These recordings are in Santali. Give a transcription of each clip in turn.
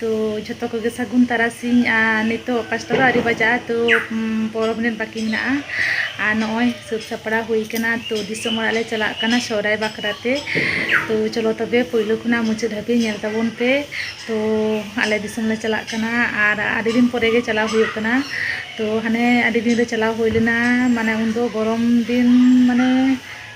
ᱛᱚ ᱡᱷᱚᱛᱚ ᱠᱚᱜᱮ ᱥᱟᱹᱜᱩᱱ ᱛᱟᱨᱟᱥᱤᱧ ᱟᱨ ᱱᱤᱛᱚᱜ ᱯᱟᱸᱪᱴᱟ ᱫᱚ ᱟᱹᱣᱨᱤ ᱵᱟᱡᱟᱜᱼᱟ ᱛᱚ ᱯᱚᱱᱨᱚ ᱢᱤᱱᱤᱴ ᱵᱟᱹᱠᱤ ᱢᱮᱱᱟᱜᱼᱟ ᱟᱨ ᱱᱚᱜᱼᱚᱭ ᱥᱟᱹᱛ ᱥᱟᱯᱲᱟᱣ ᱦᱩᱭ ᱠᱟᱱᱟ ᱛᱚ ᱫᱤᱥᱚᱢ ᱚᱲᱟᱜ ᱞᱮ ᱪᱟᱞᱟᱜ ᱠᱟᱱᱟ ᱥᱚᱦᱨᱟᱭ ᱵᱟᱠᱷᱨᱟ ᱛᱮ ᱛᱚ ᱪᱚᱞᱚ ᱛᱚᱵᱮ ᱯᱳᱭᱞᱳ ᱠᱷᱚᱱᱟᱜ ᱢᱩᱪᱟᱹᱫ ᱫᱷᱟᱹᱵᱤᱡ ᱧᱮᱞ ᱛᱟᱵᱚᱱ ᱯᱮ ᱛᱚ ᱟᱞᱮ ᱫᱤᱥᱚᱢ ᱞᱮ ᱪᱟᱞᱟᱜ ᱠᱟᱱᱟ ᱟᱨ ᱟᱹᱰᱤ ᱫᱤᱱ ᱯᱚᱨᱮ ᱜᱮ ᱪᱟᱞᱟᱣ ᱦᱩᱭᱩᱜ ᱠᱟᱱᱟ ᱛᱚ ᱦᱟᱱᱮ ᱟᱹᱰᱤ ᱫᱤᱱ ᱨᱮ ᱪᱟᱞᱟᱣ ᱦᱩᱭ ᱞᱮᱱᱟ ᱢᱟᱱᱮ ᱩᱱᱫᱚ ᱜᱚᱨᱚᱢ ᱫᱤᱱ ᱢᱟᱱᱮ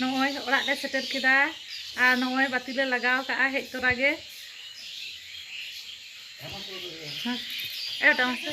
ᱱᱚᱜᱼᱚᱭ ᱚᱲᱟᱜ ᱞᱮ ᱥᱮᱴᱮᱨ ᱠᱮᱫᱟ ᱟᱨ ᱱᱚᱜᱼᱚᱭ ᱵᱟᱹᱛᱤ ᱞᱮ ᱞᱟᱜᱟᱣ ᱠᱟᱜᱼᱟ ᱦᱮᱡ ᱛᱚᱨᱟ ᱜᱮ ᱮᱴᱟᱜ ᱢᱟᱥᱮ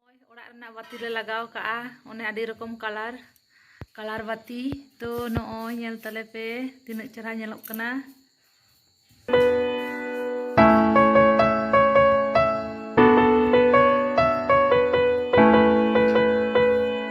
ᱱᱚᱜᱼᱚᱭ ᱚᱲᱟᱜ ᱨᱮᱱᱟᱜ ᱵᱟᱹᱛᱤ ᱞᱮ ᱞᱟᱜᱟᱣ ᱠᱟᱜᱼᱟ ᱚᱱᱮ ᱟᱹᱰᱤ ᱨᱚᱠᱚᱢ ᱠᱟᱞᱟᱨ ᱠᱟᱞᱟᱨ ᱵᱟᱹᱛᱤ ᱛᱚ ᱱᱚᱜᱼᱚᱭ ᱧᱮᱞ ᱛᱟᱞᱮ ᱯᱮ ᱛᱤᱱᱟᱹᱜ ᱪᱮᱦᱨᱟ ᱧᱮᱞᱚᱜ ᱠᱟᱱᱟ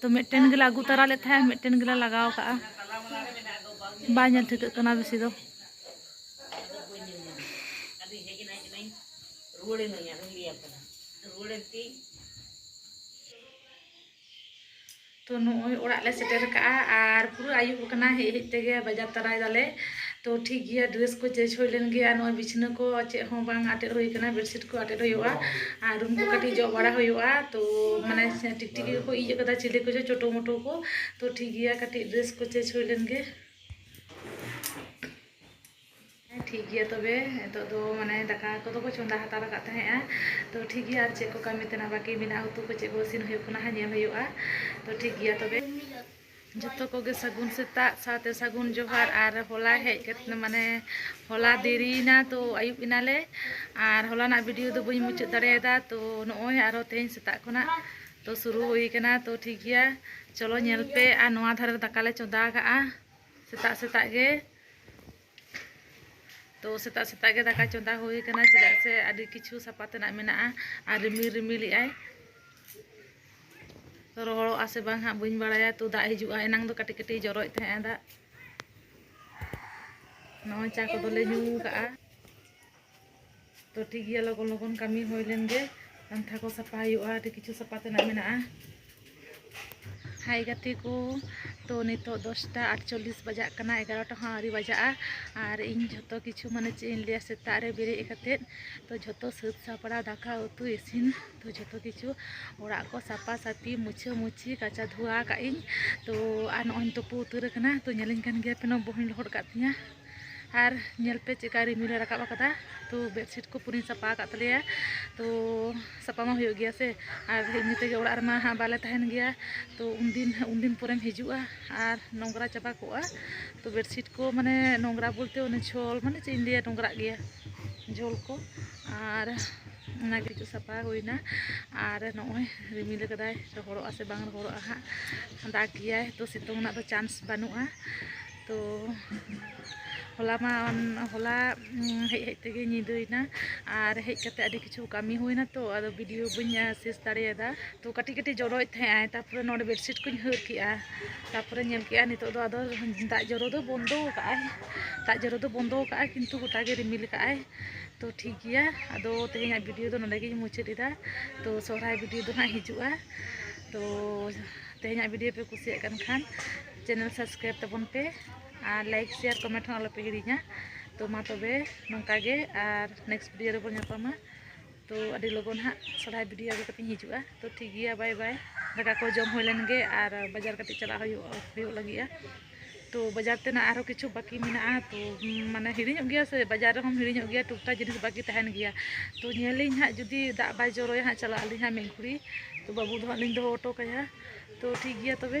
ᱛᱚ ᱢᱤᱫᱴᱮᱱ ᱜᱮᱞᱮ ᱟᱹᱜᱩ ᱛᱟᱨᱟ ᱞᱮᱫ ᱛᱟᱦᱮᱸᱫ ᱢᱤᱫᱴᱮᱱ ᱜᱮᱞᱮ ᱞᱟᱜᱟᱣ ᱠᱟᱜᱼᱟ ᱵᱟᱭ ᱧᱮᱞ ᱴᱷᱤᱠᱟᱹᱜ ᱠᱟᱱᱟ ᱵᱮᱥᱤ ᱫᱚ ᱛᱚ ᱱᱚᱜᱼᱚᱭ ᱚᱲᱟᱜ ᱞᱮ ᱥᱮᱴᱮᱨ ᱠᱟᱜᱼᱟ ᱟᱨ ᱯᱩᱨᱟᱹ ᱟᱹᱭᱩᱵ ᱠᱟᱱᱟ ᱦᱮᱡ ᱦᱮᱡ ᱛᱮᱜᱮ ᱵᱟᱡᱟᱨ ᱛᱟᱨᱟᱭ ᱫᱟᱞᱮ ᱛᱚ ᱴᱷᱤᱠ ᱜᱮᱭᱟ ᱰᱨᱮᱥ ᱠᱚ ᱪᱮᱧᱡᱽ ᱦᱩᱭ ᱞᱮᱱ ᱜᱮᱭᱟ ᱱᱚᱜᱼᱚᱭ ᱵᱤᱪᱷᱱᱟᱹ ᱠᱚ ᱪᱮᱫ ᱦᱚᱸ ᱵᱟᱝ ᱟᱴᱮᱫ ᱦᱩᱭ ᱠᱟᱱᱟ ᱵᱮᱰᱥᱤᱴ ᱠᱚ ᱟᱴᱮᱫ ᱦᱩᱭᱩᱜᱼᱟ ᱟᱨ ᱨᱩᱢ ᱠᱚ ᱠᱟᱹᱴᱤᱡ ᱡᱚᱜ ᱵᱟᱲᱟ ᱦᱩᱭᱩᱜᱼᱟ ᱛᱚ ᱢᱟᱱᱮ ᱛᱮᱜᱮ ᱠᱚ ᱤᱡ ᱟᱠᱟᱫᱟ ᱪᱤᱞᱤ ᱠᱚᱪᱚ ᱪᱳᱴᱳ ᱢᱳᱴᱳ ᱠᱚ ᱛᱚ ᱴᱷᱤᱠ ᱜᱮᱭᱟ ᱠᱟᱹᱴᱤᱡ ᱰᱨᱮᱥ ᱠᱚ ᱪᱮᱧᱡᱽ ᱦᱩᱭ ᱞᱮᱱ ᱜᱮ ᱦᱮᱸ ᱴᱷᱤᱠ ᱜᱮᱭᱟ ᱛᱚᱵᱮ ᱱᱤᱛᱚᱜ ᱫᱚ ᱢᱟᱱᱮ ᱫᱟᱠᱟ ᱠᱚᱫᱚ ᱠᱚ ᱪᱚᱸᱫᱟ ᱦᱟᱛᱟᱲ ᱟᱠᱟᱫ ᱛᱟᱦᱮᱸᱜᱼᱟ ᱛᱚ ᱴᱷᱤᱠ ᱜᱮᱭᱟ ᱟᱨ ᱪᱮᱫ ᱠᱚ ᱠᱟᱹᱢᱤ ᱛᱮᱱᱟᱜ ᱵᱟᱹᱠᱤ ᱢᱮᱱᱟᱜᱼᱟ ᱩᱛᱩ ᱠᱚ ᱪᱮᱫ ᱠᱚ ᱤᱥᱤᱱ ᱦᱩᱭᱩᱜ ᱠᱟᱱᱟ ᱦᱟᱸᱜ ᱧᱮᱞ ᱦᱩᱭᱩᱜᱼᱟ ᱛᱚ ᱴᱷᱤᱠ ᱜᱮᱭᱟ ᱛᱚᱵᱮ ᱡᱚᱛᱚ ᱠᱚᱜᱮ ᱥᱟᱹᱜᱩᱱ ᱥᱮᱛᱟᱜ ᱥᱟᱶᱛᱮ ᱥᱟᱹᱜᱩᱱ ᱡᱚᱦᱟᱨ ᱟᱨ ᱦᱚᱞᱟ ᱦᱮᱡ ᱠᱟᱛᱮ ᱢᱟᱱᱮ ᱦᱚᱞᱟ ᱫᱮᱨᱤᱭᱮᱱᱟ ᱛᱚ ᱟᱹᱭᱩᱵ ᱮᱱᱟᱞᱮ ᱟᱨ ᱦᱚᱞᱟᱱᱟᱜ ᱵᱷᱤᱰᱤᱭᱳ ᱫᱚ ᱵᱟᱹᱧ ᱢᱩᱪᱟᱹᱫ ᱫᱟᱲᱮᱭᱟᱫᱟ ᱛᱚ ᱱᱚᱜᱼᱚᱭ ᱟᱨᱚ ᱛᱮᱦᱮᱧ ᱥᱮᱛᱟᱜ ᱠᱷᱚᱱᱟᱜ ᱛᱚ ᱥᱩᱨᱩ ᱦᱩᱭ ᱠᱟᱱᱟ ᱛᱚ ᱴᱷᱤᱠ ᱜᱮᱭᱟ ᱪᱚᱞᱚ ᱧᱮᱞ ᱯᱮ ᱟᱨ ᱱᱚᱣᱟ ᱫᱷᱟᱨᱮ ᱫᱟᱠᱟᱞᱮ ᱪᱚᱸᱫᱟ ᱠᱟᱜᱼᱟ ᱥᱮᱛᱟᱜ ᱥᱮᱛᱟᱜ ᱜᱮ ᱛᱚ ᱥᱮᱛᱟᱜ ᱥᱮᱛᱟᱜ ᱜᱮ ᱫᱟᱠᱟ ᱪᱚᱸᱫᱟ ᱦᱩᱭ ᱠᱟᱱᱟ ᱪᱮᱫᱟᱜ ᱥᱮ ᱟᱹᱰᱤ ᱠᱤᱪᱷᱩ ᱥᱟᱯᱟ ᱛᱮᱱᱟᱜ ᱢᱮᱱᱟᱜᱼᱟ ᱟᱨ ᱨᱤᱢᱤᱞ ᱨᱤᱢᱤᱞᱮᱜ ᱟᱭ ᱛᱚ ᱨᱚᱦᱚᱲᱚᱜᱼᱟ ᱥᱮ ᱵᱟᱝ ᱦᱟᱸᱜ ᱵᱟᱹᱧ ᱵᱟᱲᱟᱭᱟ ᱛᱚ ᱫᱟᱜ ᱦᱤᱡᱩᱜᱼᱟ ᱮᱱᱟᱝ ᱫᱚ ᱠᱟᱹᱴᱤᱡ ᱠᱟᱹᱴᱤᱡ ᱡᱚᱨᱚᱭᱮᱫ ᱛᱟᱦᱮᱸᱜᱼᱟ ᱫᱟᱜ ᱱᱚᱜᱼᱚᱭ ᱪᱟ ᱠᱚᱫᱚᱞᱮ ᱧᱩ ᱠᱟᱜᱼᱟ ᱛᱚ ᱴᱷᱤᱠ ᱜᱮᱭᱟ ᱞᱚᱜᱚᱱ ᱞᱚᱜᱚᱱ ᱠᱟᱹᱢᱤ ᱦᱩᱭ ᱞᱮᱱ ᱜᱮ ᱯᱟᱱᱛᱷᱟ ᱠᱚ ᱥᱟᱯᱷᱟ ᱦᱩᱭᱩᱜᱼᱟ ᱟᱹᱰᱤ ᱠᱤᱪᱷᱩ ᱥᱟᱯᱷᱟ ᱛᱮᱱᱟᱜ ᱢᱮᱱᱟᱜᱼᱟ ᱦᱟᱭ ᱜᱟᱛᱮ ᱠᱚ ᱛᱚ ᱱᱤᱛᱚᱜ ᱫᱚᱥᱴᱟ ᱟᱴᱪᱚᱞᱞᱤᱥ ᱵᱟᱡᱟᱜ ᱠᱟᱱᱟ ᱮᱜᱟᱨᱚᱴᱟ ᱦᱚᱸ ᱟᱹᱣᱨᱤ ᱵᱟᱡᱟᱜᱼᱟ ᱟᱨ ᱤᱧ ᱡᱷᱚᱛᱚ ᱠᱤᱪᱷᱩ ᱢᱟᱱᱮ ᱪᱮᱫ ᱤᱧ ᱞᱟᱹᱭᱟ ᱥᱮᱛᱟᱜ ᱨᱮ ᱵᱮᱨᱮᱫ ᱠᱟᱛᱮᱫ ᱛᱚ ᱡᱷᱚᱛᱚ ᱥᱟᱹᱛ ᱥᱟᱯᱲᱟᱣ ᱫᱟᱠᱟ ᱩᱛᱩ ᱤᱥᱤᱱ ᱛᱚ ᱡᱷᱚᱛᱚ ᱠᱤᱪᱷᱩ ᱚᱲᱟᱜ ᱠᱚ ᱥᱟᱯᱷᱟ ᱥᱟᱹᱯᱷᱤ ᱢᱩᱪᱷᱟᱹ ᱢᱩᱪᱷᱤ ᱠᱟᱪᱟ ᱫᱷᱩᱣᱟ ᱠᱟᱜ ᱤᱧ ᱛᱚ ᱟᱨ ᱱᱚᱜᱼᱚᱭ ᱤᱧ ᱛᱩᱯᱩ ᱩᱛᱟᱹᱨ ᱟᱠᱟᱱᱟ ᱛᱚ ᱧᱮᱞᱤᱧ ᱠᱟᱱ ᱜᱮᱭᱟᱯᱮ ᱱᱚᱣᱟ ᱵᱚᱦᱚᱧ ᱞᱚᱦᱚᱫ ᱠᱟᱜ ᱛᱤᱧᱟᱹ ᱟᱨ ᱧᱮᱞ ᱯᱮ ᱪᱮᱫᱠᱟ ᱨᱤᱢᱤᱞᱮ ᱨᱟᱠᱟᱵ ᱟᱠᱟᱫᱟ ᱛᱚ ᱵᱮᱰᱥᱤᱴ ᱠᱚ ᱯᱩᱨᱟᱹᱧ ᱥᱟᱯᱟ ᱟᱠᱟᱫ ᱛᱟᱞᱮᱭᱟ ᱛᱚ ᱥᱟᱯᱟ ᱢᱟ ᱦᱩᱭᱩᱜ ᱜᱮᱭᱟ ᱥᱮ ᱟᱨ ᱮᱢᱱᱤ ᱛᱮᱜᱮ ᱚᱲᱟᱜ ᱨᱮᱢᱟ ᱦᱟᱸᱜ ᱵᱟᱞᱮ ᱛᱟᱦᱮᱱ ᱜᱮᱭᱟ ᱛᱚ ᱩᱱᱫᱤᱱ ᱩᱱᱫᱤᱱ ᱯᱚᱨᱮᱢ ᱦᱤᱡᱩᱜᱼᱟ ᱟᱨ ᱱᱚᱝᱨᱟ ᱪᱟᱵᱟ ᱠᱚᱜᱼᱟ ᱛᱚ ᱵᱮᱰᱥᱤᱴ ᱠᱚ ᱢᱟᱱᱮ ᱱᱚᱝᱨᱟ ᱵᱚᱞᱛᱮ ᱚᱱᱮ ᱡᱷᱚᱞ ᱢᱟᱱᱮ ᱪᱮᱫ ᱤᱧ ᱞᱟᱹᱭᱟ ᱱᱚᱝᱨᱟᱜ ᱜᱮᱭᱟ ᱡᱷᱚᱞ ᱠᱚ ᱟᱨ ᱚᱱᱟᱜᱮ ᱦᱤᱡᱩᱜ ᱥᱟᱯᱟ ᱦᱩᱭᱱᱟ ᱟᱨ ᱱᱚᱜᱼᱚᱭ ᱨᱤᱢᱤᱞ ᱠᱟᱫᱟᱭ ᱨᱚᱦᱚᱲᱚᱜᱼᱟ ᱥᱮ ᱵᱟᱝ ᱨᱚᱦᱚᱲᱚᱜᱼᱟ ᱦᱟᱸᱜ ᱫᱟᱜ ᱜᱮᱭᱟᱭ ᱛᱚ ᱥᱤᱛᱩᱝ ᱨᱮᱱᱟᱜ ᱫᱚ ᱪᱟᱱᱥ ᱵᱟᱹᱱᱩᱜᱼᱟ ᱛᱚ ᱦᱚᱞᱟ ᱢᱟ ᱦᱚᱞᱟ ᱦᱮᱡ ᱦᱮᱡ ᱛᱮᱜᱮ ᱧᱤᱫᱟᱹᱭᱮᱱᱟ ᱟᱨ ᱦᱮᱡ ᱠᱟᱛᱮ ᱟᱹᱰᱤ ᱠᱤᱪᱷᱩ ᱠᱟᱹᱢᱤ ᱦᱩᱭᱱᱟ ᱛᱚ ᱟᱫᱚ ᱵᱷᱤᱰᱤᱭᱳ ᱵᱟᱹᱧ ᱥᱮᱥ ᱫᱟᱲᱮᱭᱟᱫᱟ ᱛᱚ ᱠᱟᱹᱴᱤᱡ ᱠᱟᱹᱴᱤᱡ ᱡᱚᱨᱚᱭᱮᱫ ᱛᱟᱦᱮᱸᱜᱼᱟᱭ ᱛᱟᱨᱯᱚᱨᱮ ᱱᱚᱰᱮ ᱵᱮᱰᱥᱤᱴ ᱠᱚᱧ ᱦᱟᱹᱨ ᱠᱮᱜᱼᱟ ᱛᱟᱨᱯᱚᱨᱮ ᱧᱮᱞ ᱠᱮᱜᱼᱟ ᱱᱤᱛᱚᱜ ᱫᱚ ᱟᱫᱚ ᱫᱟᱜ ᱡᱚᱨᱚ ᱫᱚ ᱵᱚᱱᱫᱚ ᱠᱟᱜᱼᱟᱭ ᱫᱟᱜ ᱡᱚᱨᱚ ᱫᱚ ᱵᱚᱱᱫᱚ ᱠᱟᱜᱼᱟᱭ ᱠᱤᱱᱛᱩ ᱜᱚᱴᱟ ᱜᱮ ᱨᱤᱢᱤᱞ ᱠᱟᱜᱼᱟᱭ ᱛᱚ ᱴᱷᱤᱠ ᱜᱮᱭᱟ ᱟᱫᱚ ᱛᱮᱦᱮᱧᱟᱜ ᱵᱷᱤᱰᱤᱭᱳ ᱫᱚ ᱱᱚᱰᱮ ᱜᱤᱧ ᱢᱩᱪᱟᱹᱫ ᱮᱫᱟ ᱛᱚ ᱥᱚᱦᱨᱟᱭ ᱵᱷᱤᱰᱤᱭᱳ ᱫᱚ ᱦᱟᱸᱜ ᱦᱤᱡᱩᱜᱼᱟ ᱛᱚ ᱛᱮᱦᱮᱧᱟᱜ ᱵᱷᱤᱰᱤᱭᱳ ᱯᱮ ᱠᱩᱥᱤᱭᱟᱜ ᱠᱟᱱ ᱠᱷᱟᱱ ᱪᱮᱱᱮᱞ ᱥᱟᱵᱥᱠᱨᱟᱭᱤᱵ ᱛᱟᱵᱚᱱ ᱯᱮ ᱟᱨ ᱞᱟᱭᱤᱠ ᱥᱮᱭᱟᱨ ᱠᱚᱢᱮᱱᱴ ᱦᱚᱸ ᱟᱞᱚᱯᱮ ᱦᱤᱲᱤᱧᱟ ᱛᱚ ᱢᱟ ᱛᱚᱵᱮ ᱱᱚᱝᱠᱟ ᱜᱮ ᱟᱨ ᱱᱮᱠᱥᱴ ᱵᱷᱤᱰᱤᱭᱳ ᱨᱮᱵᱚᱱ ᱧᱟᱯᱟᱢᱟ ᱛᱚ ᱟᱹᱰᱤ ᱞᱚᱜᱚᱱ ᱦᱟᱸᱜ ᱥᱚᱨᱦᱟᱭ ᱵᱷᱤᱰᱤᱭᱳ ᱟᱹᱜᱩ ᱠᱟᱛᱮᱧ ᱦᱤᱡᱩᱜᱼᱟ ᱛᱚ ᱴᱷᱤᱠ ᱜᱮᱭᱟ ᱵᱟᱭ ᱵᱟᱭ ᱫᱟᱠᱟ ᱠᱚ ᱡᱚᱢ ᱦᱩᱭ ᱞᱮᱱ ᱜᱮ ᱟᱨ ᱵᱟᱡᱟᱨ ᱠᱟᱹᱴᱤᱡ ᱪᱟᱞᱟᱜ ᱦᱩᱭᱩᱜ ᱦᱩᱭᱩᱜ ᱞᱟᱹᱜᱤᱫᱼᱟ ᱛᱚ ᱵᱟᱡᱟᱨ ᱛᱮᱱᱟᱜ ᱟᱨᱦᱚᱸ ᱠᱤᱪᱷᱩ ᱵᱟᱹᱠᱤ ᱢᱮᱱᱟᱜᱼᱟ ᱛᱚ ᱢᱟᱱᱮ ᱦᱤᱲᱤᱧᱚᱜ ᱜᱮᱭᱟ ᱥᱮ ᱵᱟᱡᱟᱨ ᱨᱮᱦᱚᱸᱢ ᱦᱤᱲᱤᱧᱚᱜ ᱜᱮᱭᱟ ᱴᱩᱠ ᱴᱟᱠ ᱡᱤᱱᱤᱥ ᱵᱟᱹᱠᱤ ᱛᱟᱦᱮᱱ ᱜᱮᱭᱟ ᱛᱚ ᱧᱮᱞᱟᱹᱧ ᱦᱟᱸᱜ ᱡᱩᱫᱤ ᱫᱟᱜ ᱵᱟᱭ ᱡᱚᱨᱚᱭᱟ ᱦᱟᱸᱜ ᱪᱟᱞᱟᱜ ᱟᱹᱞᱤᱧ ᱦᱟᱸᱜ ᱢᱤᱫ ᱜᱷᱩᱲᱤ ᱛᱚ ᱵᱟᱹᱵᱩ ᱫᱚ ᱦᱟᱸᱜ ᱞᱤᱧ ᱫᱚᱦᱚ ᱦᱚᱴᱚ ᱠᱟᱭᱟ ᱛᱚ ᱴᱷᱤᱠ ᱜᱮᱭᱟ ᱛᱚᱵᱮ